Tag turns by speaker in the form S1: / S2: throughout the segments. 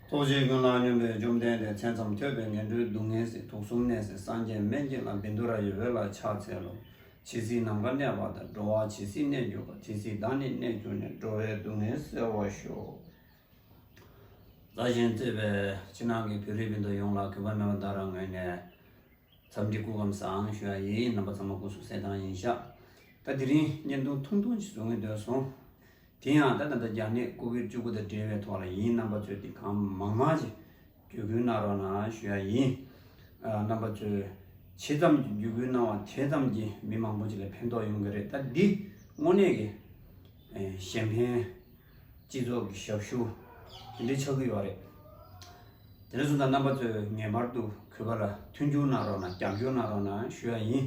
S1: རྟོག་བྱའི་ཀུན་སློང་སྙོམས་པའི་བཅོམ་ལྡན་འདས་མཚན་ཙམ་ཐོས་པས་ངན་འགྲོའི་སྡུག་བསྔལ་སྲིད་དུག་གསུམ་ནད་སེལ་སངས་རྒྱས་སྨན་གྱི་ལམ་བིནྡུ་ར་ཡི་འོད་ལ་ཕྱག་འཚལ་ལོ། ཇི་སྲིད་ནམ་མཁའ་གནས་པ་དང་འགྲོ་བ་ཇི་སྲིད་གནས་གྱུར་པ་དེ་སྲིད་བདག་ནི་གནས་གྱུར་ནས་འགྲོ་བའི་སྡུག་བསྔལ་སེལ་བར་ཤོག། བདག་གཞན་བརྩེ་བས་ཕྱི་ནང་གི་བེ་རི་བིནྡུ་ཡོངས་ལ་གུས་པ་མོས་པ་བདག་རང་ངོས་ནས་འཚམས་འདྲི་སྐུ་ཁམས་བཟང་ཞུ་ཡ་ཡིས་རྣམ་པ་ཚང་མ་སྐུ་གསུང་གསལ་དྭངས་ཡིན་ཤག་ད་དེ་རིང་བརྙན་ཐུང་ཐུང་ཐུང་ཅིག་བཟོ་ངེས་འདོད་སོང། དེ་ཡང་ད་ད་ལྟ་རྒྱ་ནད་ཀོ་བིར་བཅུ་དགུ་དང་འབྲེལ་བའི་ཐོག་ལ་ཡིན་རྣམ་པ་ཚོས་དེ་གང་མང་མང་ཅིག་བརྒྱུད་སྐུལ་གནང་རོགས་གནང་ཞུ་ཡ་ཡིན། རྣམ་པ་ཚོས་ཇི་ཙམ་གྱིས་བརྒྱུད་སྐུལ་གནང་བ་དེ་ཙམ་གྱིས་མི་མང་པོ་ཅིག་ལ་ཕན་ཐོགས་ཡོང་གི་རེད་ད་འདི་དངོས་གནས་ཀྱི་གཞན་ཕན་སྤྱི་ཚོགས་ཀྱི་ཞབས་ཞུ་དེ་འདྲའི་ཆགས་ཀྱི་ཡོད་རེད། དེ་འདྲ་སོང་ཙང་རྣམ་པ་ཚོས་ངེས་པར་དུ་གུས་པ་ལ་མཐུན་འགྱུར་གནང་རོགས་གནང་རྒྱབ་སྐྱོར་གནང་རོགས་གནང་ཞུ་ཡ་ཡིན།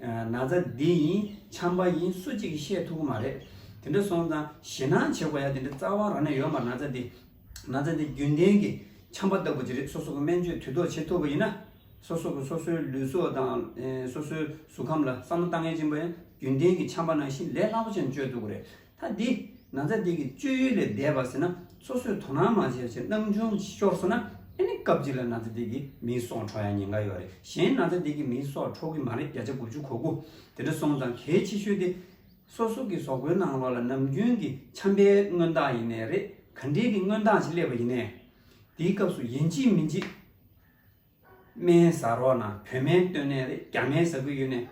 S1: ན་ཚ་འདི་ཡིན་འཁྱམ་པ་ཡིན་སུ་གཅིག་གིས་ཤེས་ཐུབ་ཀྱི་མ་རེད། དེ་འདྲ་སོང་ཙང་ཞེད་སྣང་བྱེད་དགོས་ཡ་དེ་འདྲའི་རྩ་བ་རང་ནས་ཡོད་མར་ན་ཚ་འདི། ན་ཚ་འདི་རྒྱུན་ལྡན་གྱི་འཁྱམ་པ་ལྟ་བུ་ཅིག་རེད་སོ་སོ་གི་སྨན་བཅོས་དུས་ཐོག་བྱེད་ཐུབ་པ་ཡིན་ན། སོ་སོ་གི་སོ་སོའི་ལུས་སྲོག་དང་སོ་སོའི་གཟུགས་ཁམས་ལ་བསམ་བློ་གཏང་ངེས་ཅན་པ་ཡང་རྒྱུན་ལྡན་གྱི་འཁྱམ་པ་ནང་བཞིན་ལས་སླ་པོ་ཅན་བཅོས་ཐུབ་ཀྱི་རེད། ད་འདི་ན་ཚ་དེ་གི་སྤྱོད་ཡུལ་ལས་འདས་པ་ཟེར་ན་སོ་སོས་དོ་སྣང་མ་བྱས་པ་ཕྱིར་སྣང་ཆུང་ཤོར་སོང་ན་ཨེ་ནི་སྐབས་གཅིག་ལ་ན་ཚ་དེ་གི་མིའི་སྲོག་འཕྲོག་ཡ་ཉེན་ཁ་ཡོད་རེད་གཞན་ན་ཚ་དེ་གི་མིའི་སྲོག་འཕྲོག་གི་མ་རེད་བརྒྱ་ཆ་དགུ་བཅུ་གོ་དགུ་དེ་འདྲ་སོང་ཙང་གལ་ཆེ་ཤོས་དེ་སོ་སོ་གི་ཟོག་པོའི་ནང་ལོགས་ལ་ནམ་རྒྱུན་གི་ཆམ་པའི་མངོན་རྟགས་ཡིན་ནའི་རེད་ག་འདྲའི་གི་མངོན་རྟགས་ཞིག་སླེབས་པ་ཡིན་ནའི། འདིའི་སྐབས་སུ་ཡིན་གཅིག་མིན་གཅིག། སྨན་ཟ་རོགས་ན་བོད་སྨན་སྟོན་ནས་རེད་རྒྱ་སྨན་ཟ་གི་ཡོད་ནས།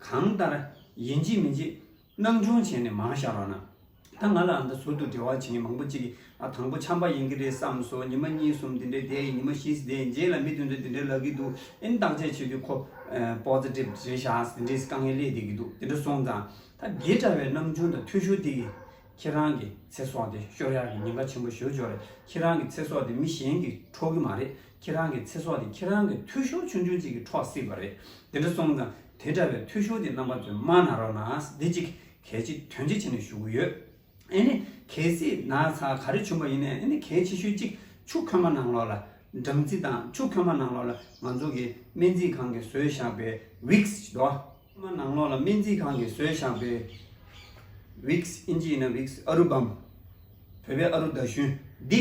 S1: གང་ལྟར། ཡིན་གཅིག་མིན་གཅིག། སྣང་ཆུང་བྱས་ནས་མང་བཞག་རོགས་ན། ད་ང་ལ་ཨ་མདའ་ཟུར་དུ་འབྲེལ་བ་བྱེད་མཁན་མང་པོ་གཅིག་གིས་དང་པོ་ཆམ་པ་ཡིན་གྱི་རེད་བསམ་སོང་ཉི་མ་གཉིས་གསུམ་དེ་འདྲའི་བསྡད་ཡིན་ཉི་མ་བཞིས་བསྡད་ཡིན་རྗེས་ལ་མི་དེ་ཚོས་དེ་འདྲའི་ལབ་གི་འདུག་ཨིན་བརྟག་དཔྱད་བྱེད་དུས་ཁོ། Positive རེད་བཞག་དེ་འདྲའི་དཀའ་ངལ་སླེབས་བསྡད་ཀྱི་འདུག་དེ་འདྲ་སོང་ཙང། ད་རྒས་དྲ་བའི་སྣང་ཆུང་དང་འཐུས་ཤོར་དེ་གིས། ཁྱེད་རང་གི་ཚེ་སྲོག་དེ་ཤོར་ཡག་གི་ཉེན་ཁ་ཆེན་པོ་ཞོ་ཅོག་རེད་ཁྱེད་རང་གི་ཚེ་སྲོག་དེ་མི་གཞན་གིས་འཕྲོག་གི་མ་རེད་ཁྱེད་རང་གི་ཚེ་སྲོག་དེ་ཁྱེད་རང་གི་འཐུས་ཤོར་ཆུང་ཆུང་གཅིག་གི་འཕྲོག་སྲིད་པ་རེད། དེ་འདྲ་སོང་ཙང་དེ་འདྲ་བའི་འཐུས་ཤོར་གྱི་རྣམ་པ་དེ་མ་གནང་རོགས་གནང་བདེ་སྐྱིད་གལ་ཆེ་དོན་ཆེ་བྱས་ནས་ཞུ་གི་ཡོད། ཨེ་ནི་གལ་སྲིད་ན་ཚ་ག་རེ་བྱུང་བ་ཡིན་ན་ཨེ་ནི་གལ་ཆེ་ཤོས་གཅིག་ཆུ་ཁོལ་མ་གནང་རོགས་ལ། སྦྲང་རྩི་དང་ཆུ་ཁོལ་མ་གནང་རོགས་ལ་ང་ཚོ་གི་སྨན་རྩིས་ཁང་གི་ཟོས་བཞག་པའི Vicks ཅི་དོ། མ་གནང་རོགས་ལ་སྨན་རྩིས་ཁང་གི་ཟོས་བཞག་པའི Vicks ཨིན་ཇི་ཡིན་ན Vicks ཨ་རུ་བམ། བོད་པའི་ཨ་རུ་ཟླ་ཞུན་འདི།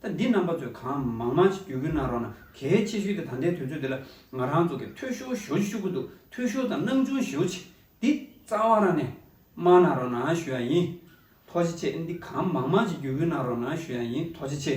S1: ད་འདི་རྣམ་པ་ཚོས་གང་མང་མང་ཞིག་བརྒྱུད་སྐུལ་གནང་རོགས་གནང་གལ་ཆེ་ཤོས་དེ་ད་ལྟའི་དུས་ཚོད་འདི་ལ་ང་རང་ཚོ་གི་ཐོས་ཤོར་ཞོ་ཅི་ཤོར་གི་འདུག་ཐོས་ཤོར་དང་སྣང་ཆུང་ཞོ་ཅི་འདི་རྩ་བ་རང་ནས་སྨྲ་གནང་རོགས་གནང་ཞུ་ཡག་ཡིན་ཐོ་ཅི་ཆེ་འདི་གང་མང་མང་ཞིག་བརྒྱུད་སྐུལ་གནང་རོགས་གནང་ཞུ་ཡག་ཡིན་ཐོ་ཅི་ཆེ།